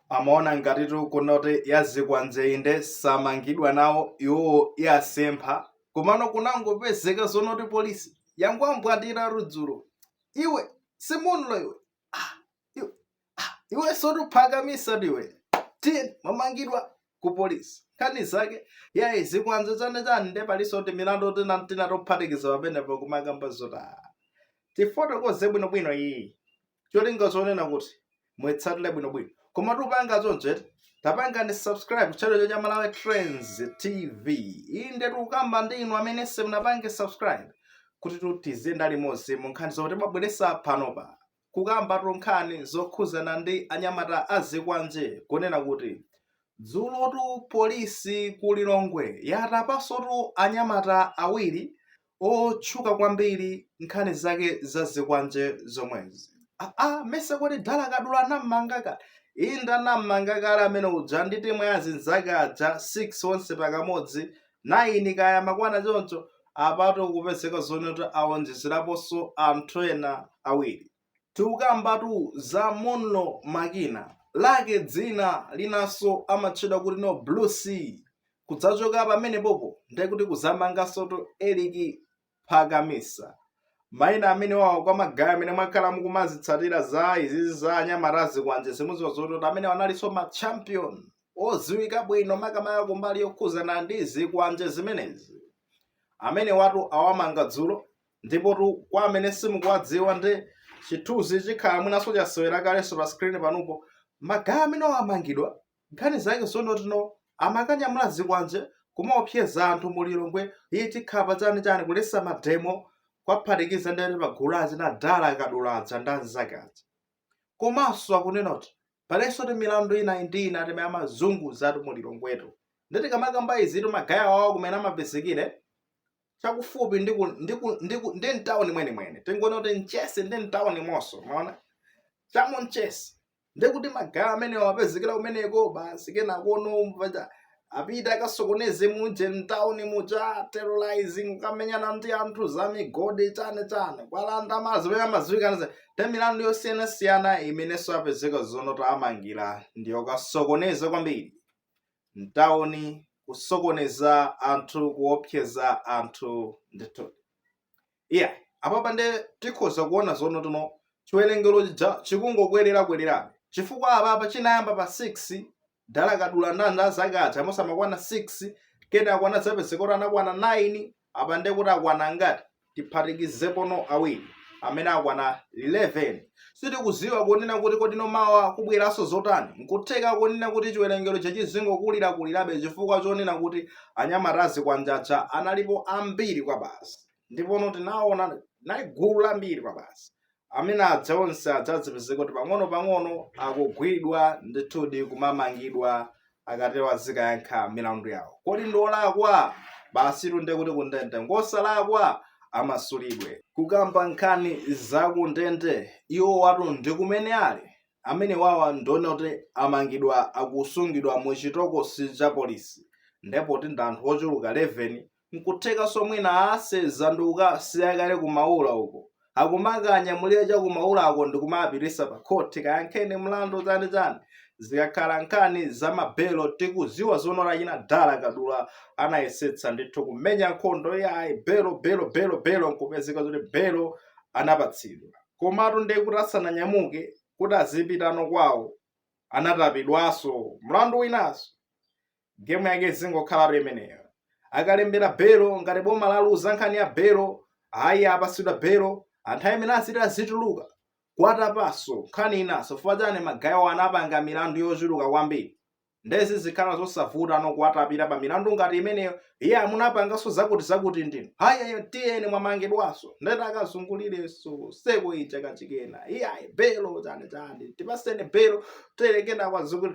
amaona ngatitu kunoti yazikwanje inde samangidwa nawo iwowo yasempha komano kwangopezeka zonoti polisi yangowambwandira dzulo iwe si Munlo iwe ah, iwe, ah, iwe nsotu Phakamisa ndiwe tiyeni mwamangidwa ku polisi nkhani zake yayi zikwanje chani chani nde palinso ti milandu tina tina tophatikiza pamenepo kumakamba zotani tifotokoze bwinobwino iyi cholinga chonena kuti muitsatire bwinobwino koma tipanga choncho eti tapangani subscribe ku channel chino cha malawi trends tv inde tikukamba ndi inu amene simunapange subscribe kuti tiziyendera limodzi mu nkhani zomwe timabweresa panopa kukamba tu nkhani zokhuzana ndi anyamata azikwanje kunena kuti dzulotu polisi ku lilongwe yatapansotu anyamata awiri otchuka kwambiri nkhani zake za zikwanje zomwezi ah, ah, mesa kodi dala kadula anammanga kale inde anammanga kale amene uja ndi timu ya zinzake aja 6 onse pakamodzi 9 kaya amakwana choncho apatu kupezeka zonoti awonjezeraponso anthu ena awiri Tikukambatu za Munlo Makina, lake dzina linanso amatchedwa kuti No Blue C. Kudzachoka pamenepopo ndiye kuti kudzamangansotu Eric Phakamisa. Maina amenewawa kwa magaye amene mwakhala mukumazitsatira za izizi za anyamata azikwanje muziwa zoti kuti amenewa analinso ma champion oziwika bwino makamaka kumbali yokhuzana ndi zikwanje zimenezi. Amenewatu awamanga dzulo Ndipotu kwa amene simukuwadziwa ndi chithunzi chikhala mwinanso chasewera kalenso pa screen panopo magaye amene amangidwa nkhani zake zonoti amakanyamula zikwanje kumaopseza anthu mu Lilongwe iyo ikakhala pa chani chani kulesa mademo kuphatikiza ndi pa gulu la achina dala kadula aja ndi anzake aja komanso akunena kuti palinso ti milandu tina ndi tina timene amazunguza anthu mu Lilongwetu ndi tikamakamba izitu magaye awawa kumene amapezekera chakufupi ndi ku- ndi ku- ndi ku- ndi mtawuni mwenimweni tingonena kuti mchesi ndi mtawuni monse munaona chamu mchesi ndi kuti magaye amenewa apezekera kumeneko basi kenakono paja apita akasokoneze muje mtawuni muja terrorizing kukamenyana ndi anthu za migodi chani chani kuwalanda mazi pamene amaziwikanso ti milandu yosiyanasiyana imenenso apezeka zonoti awamangira ndi yokasokoneza kwambiri mtauni, kusokoneza anthu, kuopseza anthu ndithu. Iya, apapa nde tikhoza kuona zonoti chiwerengero chikungokwerera-kwererabe chifukwa apapa chinayamba pa 6 dala kadula ndi anzake aja amene amakwana 6 kenako anadzapezeka kuti anakwana 9 apa ndiye kuti akwana angati tiphatikizepo awiri amene akwana 11 sitikuziwa kunena kuti kodi ndi mawa kubweranso zotani nkutheka kunena kuti chiwerengero chake chizingokulirakulirabe chifukwa chonena kuti anyamata azikwanje aja analipo ambiri kwabasi ndipono tinaona nali gulu lambiri kwabasi amene adza onse adzadzipezeka kuti pang'ono-pang'ono akugwidwa ndithudi kumamangidwa akatere azikayankha milandu yawo kodi ndi olakwa basitu nde kuti kundende ngosalakwa amasulidwe kukamba nkhani zakundende iwowatu ndi kumene ali amenewawa ndiye kuti amangidwa akusungidwa mu chitokosi cha polisi nde poti ndi anthu ochuluka 11 Nkuthekanso mwina asenza ndi kukasiya kale ku Maula uko. Akumakawanyamulira cha ku Maulako ndi kumapitisa pa khoti kayankheni mlandu chani chani. Zikakhala nkhani za ma belo tikuziwa zoona kuti achina Dala Kadula anayesetsa ndithu kumenya nkhondo iyayi belo belo belo belo nkupezeka zoti belo anapatsidwa. Komatu ndiye kuti asananyamuke kuti azipitano kwawo anatapidwaso mlandu winanso. Game yake izingokhalatu imeneyo. Akalembera belo ngati boma laluza nkhani ya belo, ayi apasidwa belo, anthu mmene aziti azituluka kuwatapaso nkhani inaso chifukwa chani magayewo anapanga milandu yochuluka kwambiri nde zizikhala zosavuta no kuwatapira pa milandu ngati imeneyo iye amunapangaso zakuti zakuti ndinu ayi tiyeni mwamangidwaso ndekuti akazungulireso circle ija kachikena iyayi belo chani chani tipaseni belo terekena kwazikuti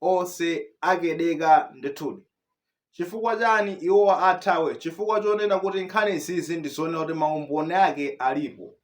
onse akedeka ndithudi chifukwa chani iwo athawe chifukwa chonena kuti nkhani izizi ndizonena kuti maumboni ake alipo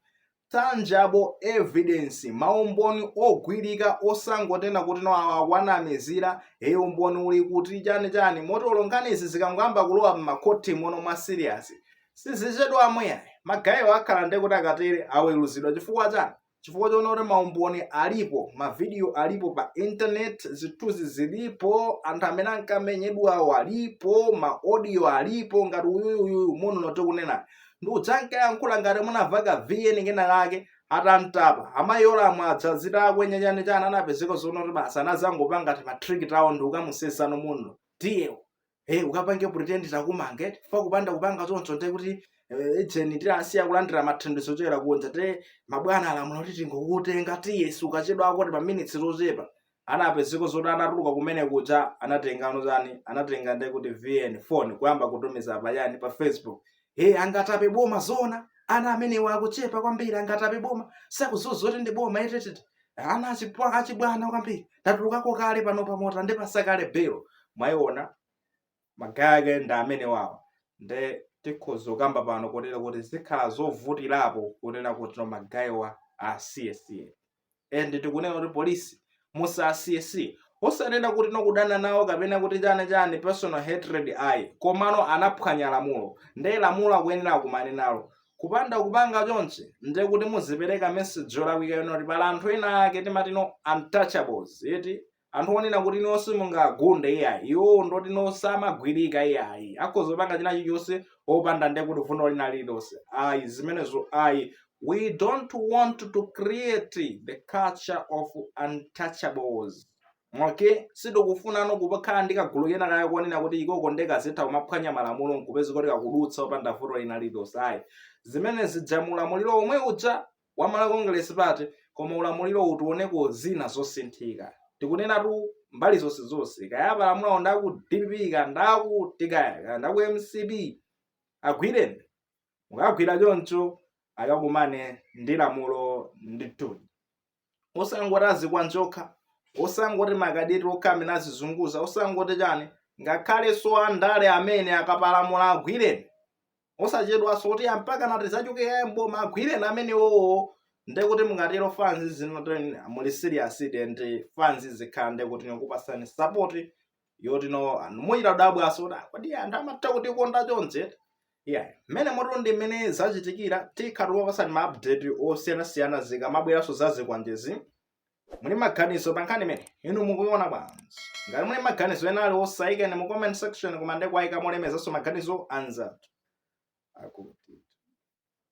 tangible evidence maumboni ogwirika osangonena kuti no awa akuwanamizira e umboni uli kuti chani chani moti olo nkhani izi zikangoyamba kulowa m'makhotimono mwa serious sizichedwa mwe yayi magayewo akhala ndi kuti akatere aweluzidwa chifukwa chani chifukwa choonena kuti maumboni alipo mavidiyo alipo pa internet zithunzi zilipo anthu amene ankamenyedwawo alipo maodiyo alipo ngati uyuyuyu mununo tikunena ndi kuzankayankhula ngati munamva ka vn kena kake atamtapa amayi olamwa adza zitakwenya chani chani anapezeka zoona kuti basi anazangopanga timatriki tawo ndi kukamusenzano mununo tiye iwe Hey, eh, ukapange pretend takumange chifukwa kupanda kupanga choncho nte kuti eh, ujeni tilasiya kulandira mathandizo ochokera kunja nde mabwana alamula kuti tingokutenga tiye sukachedwako nde pa minutes zochepa anapezeka zoti anatuluka kumene kuja anatengano chani anatenga nde kuti vn phone kuyamba kutumiza payani pa facebook e angatape boma zona ana amenewa akuchepa kwambiri angatape boma sakuziwa zoti ndi boma etetete ana achipwa achibwana kwambiri ndatulukako kale panopa moti andipasa kale belo mwayiona magayi ake ndi amenewawa nde tikhoza kukamba pano kotero kuti zikhala zovutirapo kunena kuti no magayiwa asiyesiye and tikunena kuti polisi musasiyesiye osanena kuti no kudana nawo kapena kuti chani chani personal hatred ayi komano anaphwanya lamulo nde lamulo akuyenera akumane nalo kupanda kupanga chonchi nde kuti muzipereka message yolakwika yonena kuti pali anthu ena ake timati no untouchables eti anthu onena kuti no simungagunde iyayi iwowo ndoti no samagwirika iyayi akhoza kupanga china chilichonse opanda nde kuti vuto lina lililonse ayi zimenezo ayi we don't want to create the culture of untouchables okay sitikufuna no kuti pakhale ndi kagulu kena kake konena kuti ikoko nde kazitha kumaphwanya malamulo nkupezeka kuti kakudutsa opanda vuto lina lililonse ayi zimene zija mu ulamuliro omwe uja wa Malawi Congress Party koma ulamuliro uwu tioneko zina zosinthika tikunenatu mbali zonse zonse kaya apalamulawo ndaku dpp ka ndakuti kaya ka ndaku mcp agwireni mukagwira choncho akakumane ndi lamulo ndithudi osangoti azikwanje okha osangoti makadeti okha amene azizunguza osangoti chani ngakhalenso andale amene akapalamula agwireni osachedwanso kuti a mpakana ati azachoke kaye mboma agwireni amenewowo ndekuti mukatero fanzi zinena kuti muli serious and fanzi zikhala ndekuti nikupasani support yoti no anthu muchita kudabwaso kuti kodi anthu amatha kutikonda chonchi yeah mmenemotu ndi mmene zachitikira tikhala tikupasani ma update osiyanasiyana zikamabweranso za zikwanjezi muli maganizo pa nkhani imeneyi inu mukuiona bwanji ngati muli maganizo ena aliwonse ayikeni mu comment section koma nde kuwayika molemekezanso maganizo anzathu akuti